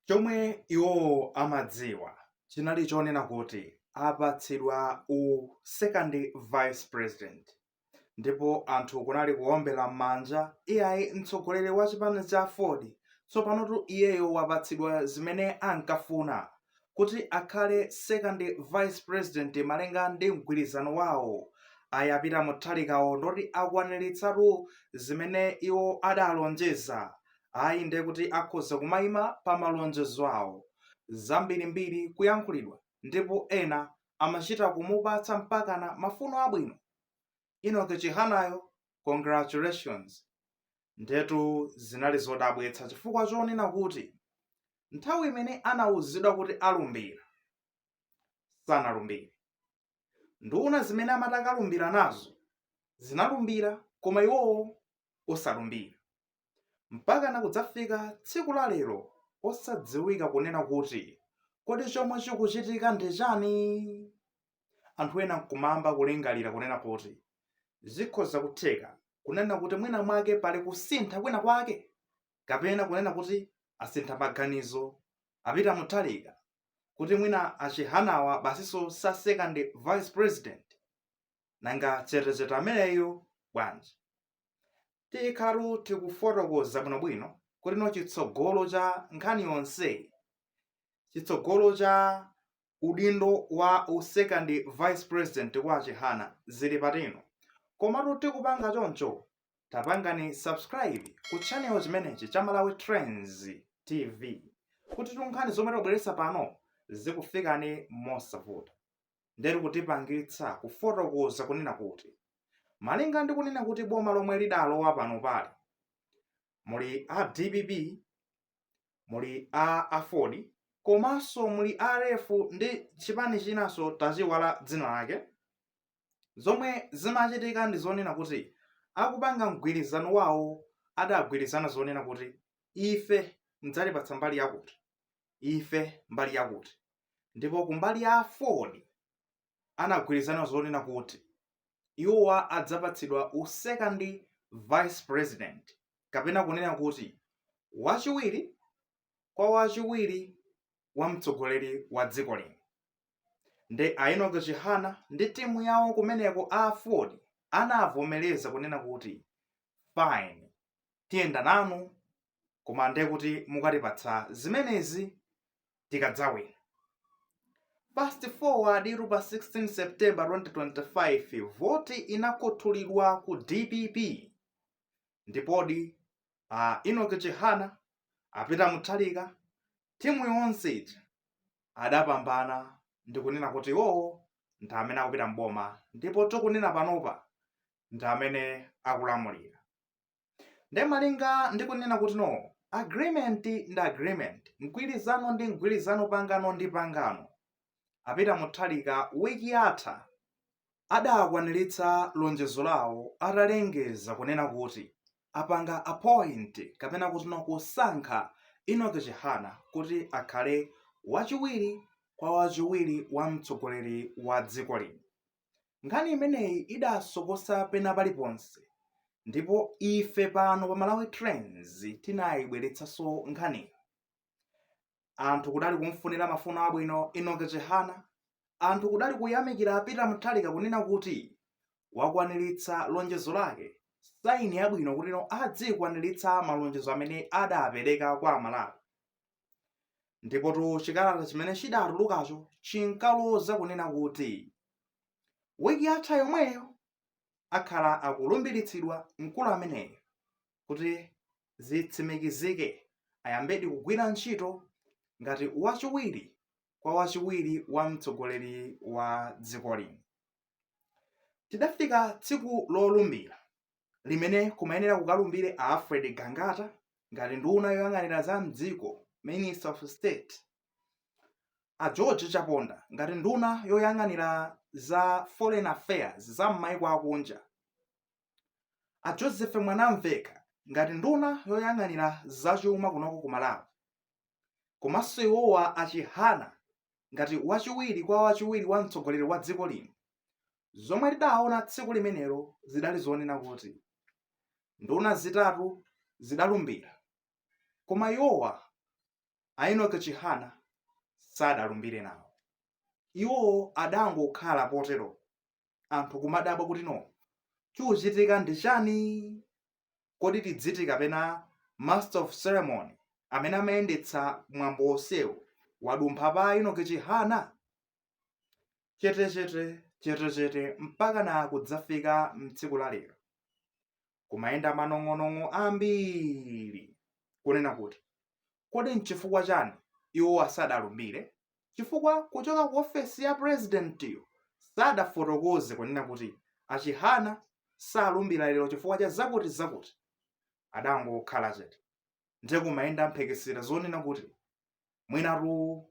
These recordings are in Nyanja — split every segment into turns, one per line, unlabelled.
Chomwe iwowo amadziwa chinali chonena kuti apatsidwa u second vice president ndipo anthu kunali kuombela mmanja iyayi mtsogoleri wa chipani cha aford tsopanotu iyeyo wapatsidwa zimene ankafuna kuti akhale second vice president malinga ndi mgwirizano wawo ayi a Peter Mutharikawo ndithu akwanilitsatu zimene iwo adalonjeza ayi ndiye kuti akhoza kumaima pa malonjezo awo. Zambirimbiri kuyankhulidwa ndipo ena amachita kumupatsa mpakana mafuno abwino. Enoch Chihanayo congratulations. Ndetu zinali zodabwitsa chifukwa chonena kuti nthawi imene anauzidwa kuti alumbira sanalumbire. Nduna zimene amati akalumbire nazo zinalumbira koma iwowo osalumbira. mpakana kudzafika tsiku la lero osadziwika kunena kuti kodi chomwe chikuchitika ndi chani anthu ena nkumayamba kulingalira kunena kuti zikhoza kutheka kunena kuti mwina mwake pali kusintha kwina kwake kapena kunena kuti asintha maganizo a Peter Mutharika kuti mwina a Chihanawa basinso sa second vice president nanga chetechete ameneyo bwanji tikhalatu tikufotokoza bwinobwino kutino tsogolo cha nkhani yonseyi tsogolo cha udindo wa u second vice president kwa a chihana zili pati komatu tikupanga choncho tapangani subscribe ku channel chimenechi cha malawi trends tv kutitu nkhani zomwe tubweretsa pano zikufikeni mosavuta ndiye chikutipangitsa kufotokoza kunena kuti malinga ndi kunena kuti boma lomwe lidalowa panopali muli a dpp muli a aford komanso muli rf ndi chipani chinanso tachiwala dzina lake zomwe zimachitika ndi zonena kuti akupanga mgwirizano wawo adagwirizana zonena kuti ife mdzatipatsa mbali yakuti ife mbali yakuti ndipo kumbali ya aford anagwirizana zonena kuti iwowa adzapatsidwa u second vice president kapena kunena kuti wachiwiri kwa wachiwiri wa mtsogoleri wa dziko lino nde a Enoch Chihana ndi timu yawo kumeneko a aford anavomereza kunena kuti fine tiyenda nanu koma ndiye kuti mukatipatsa zimenezi tikadzawina fast forward ili pa 16 september 2025 voti inakhuthulidwa ku dpp ndipodi a Enoch Chihana a Peter Mutharika timu yonse ija adapambana ndikunena kuti iwowo ndi amene akupita mboma ndipo tikunena panopa ndi amene akulamulira nde malinga ndi kunena kuti no agreement ndi agreement mgwirizano ndi mgwirizano pangano ndi pangano a Peter Mutharika wiki yatha adakwaniritsa lonjezo lawo atalengeza kunena kuti apanga appoint kapena kuti no kusankha Enoch Chihana kuti akhale wachiwiri kwa wachiwiri wa mtsogoleri wa dziko lino Nkhani imeneyi idasokosa pena paliponse ndipo ife pano pa Malawi Trends tinayibweretsanso nkhaniyi. Anthu kudali kumfunira mafuno abwino Enoch Chihana, anthu kudali kuyamikira a Peter Mutharika kunena kuti wakwaniritsa lonjezo lake, saini yabwino kuti no adzikwaniritsa malonjezo amene adapereka kwa Amalawi. ndipotu chikalata chimene chidatulukacho chinkaloza kunena kuti wiki yatha yomweyo akhala akulumbiritsidwa mkulu ameneyo kuti zitsimikizike ayambedi kugwira ntchito ngati wachiwiri kwa wachiwiri wa mtsogoleri wa dziko lino tidafika tsiku lolumbira limene kumayenera kukalumbire a Alfred Gangata ngati nduna yoyang'anira za mdziko, Minister of State, a George Chaponda ngati nduna yoyang'anira za Foreign Affairs za m'maiko akunja, a Joseph Mwanamvekha ngati nduna yoyang'anira za chuma kunoko ku Malawi, komanso iwowa a Chihana ngati wachiwiri kwa wachiwiri wa mtsogoleri wa dziko lino zomwe tidaona tsiku limenelo zidali zonena kuti nduna zitatu zidalumbira koma iwowa a Enoch Chihana sadalumbire nawo iwowo adangokhala potero anthu kumadabwa kuti no chikuchitika ndi chani kodi tidziti kapena master of ceremony amene amayendetsa mwambo wonsewu wadumpha pa Enoch Chihana chetechete chetechete mpakana kudzafika mtsiku la lero kumayenda manong'onong'o ambiri kunena kuti kodi nchifukwa chani iwo asadalumbire chifukwa kuchoka ku ofesi ya purezidentiyo sadafotokoze kunena kuti a Chihana salumbira lero chifukwa cha zakuti zakuti adangokhala chete ndiye kumayenda mphekesera zonena kuti mwinatu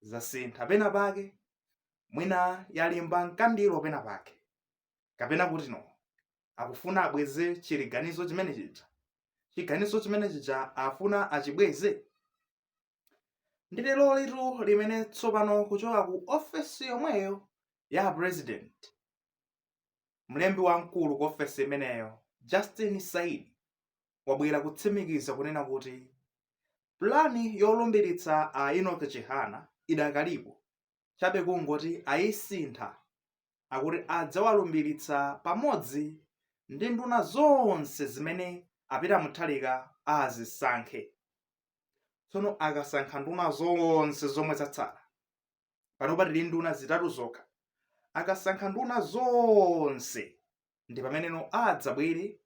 zasintha pena pake mwina yalimba nkandiro pena pake kapena kuti no akufuna abweze chiganizo chimene chija chiganizo chimene chija afuna achibweze ndi lerolitu limene tsopano kuchoka ku ofesi yomweyo ya president mlembi wamkulu ku ofesi imeneyo justin saidi wabwera kutsimikiza kunena kuti pulani yolumbiritsa a enoch chihana idakalipo chabe kungoti ayisintha akuti adzawalumbilitsa pamodzi ndi nduna zonse zimene a Peter Mutharika azisankhe. Tsono akasankha nduna zonse zomwe zatsala, panopa tili nduna zitatu zokha, akasankha nduna zonse ndi pameneno adzabwere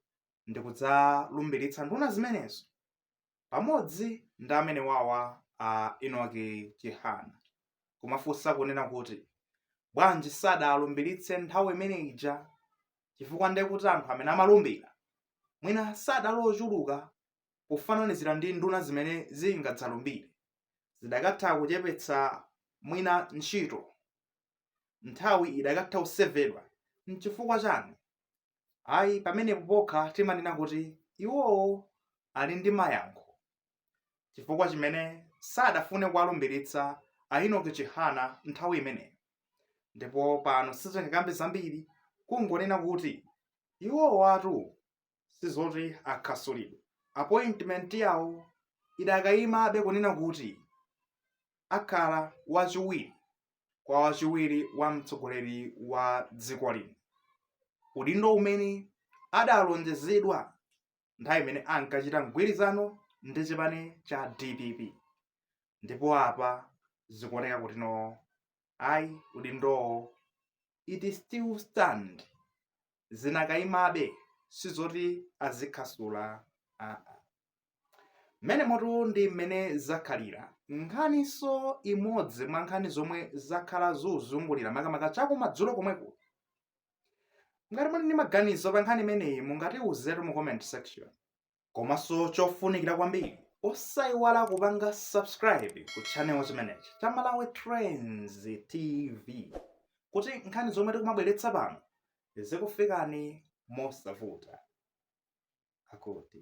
ndikudzalumbilitsa nduna zimenezo. pamodzi ndi amene wawa a Enoch Chihana kumafunsa kunena kuti bwanji sadalumbiritse nthawi imene ija chifukwa ndiye kuti anthu amene amalumbira mwina sadali ochuluka pofananizira ndi nduna zimene zingadzalumbire zidakatha kuchepetsa mwina ntchito nthawi idakatha kusevedwa nchifukwa chani ayi pamenepo pokha timanena kuti iwowo ali ndi mayankho chifukwa chimene sadafune kuwalumbiritsa a Enoch Chihana nthawi imeneyo ndipo pano sitingakambe zambiri kungonena kuti iwowatu sizoti akhasulidwe appointment yawo idakayimabe kunena kuti akhala wachiwiri kwa wachiwiri wa mtsogoleri wa dziko lino udindo umene adalonjezedwa nthawi imene ankachita mgwirizano ndi chipani cha dpp ndipo apa zikuoneka kuti no ayi udindowo it still stand zinakaimabe sizoti azikhasula aa mmenemotu ndi mmene zakhalira nkhaninso imodzi mwa nkhani zomwe zakhala zikuzungulira makamaka chakumadzulo komweko ngati muli ndi maganizo pa nkhani imeneyi mungatiuzetu mu comment section komanso chofunikira kwambiri osaiwala kupanga subscribe ku channel chimenechi cha malawi trends tv kuti nkhani zomwe tikumabweretsa pano zikufikani mosavuta akuti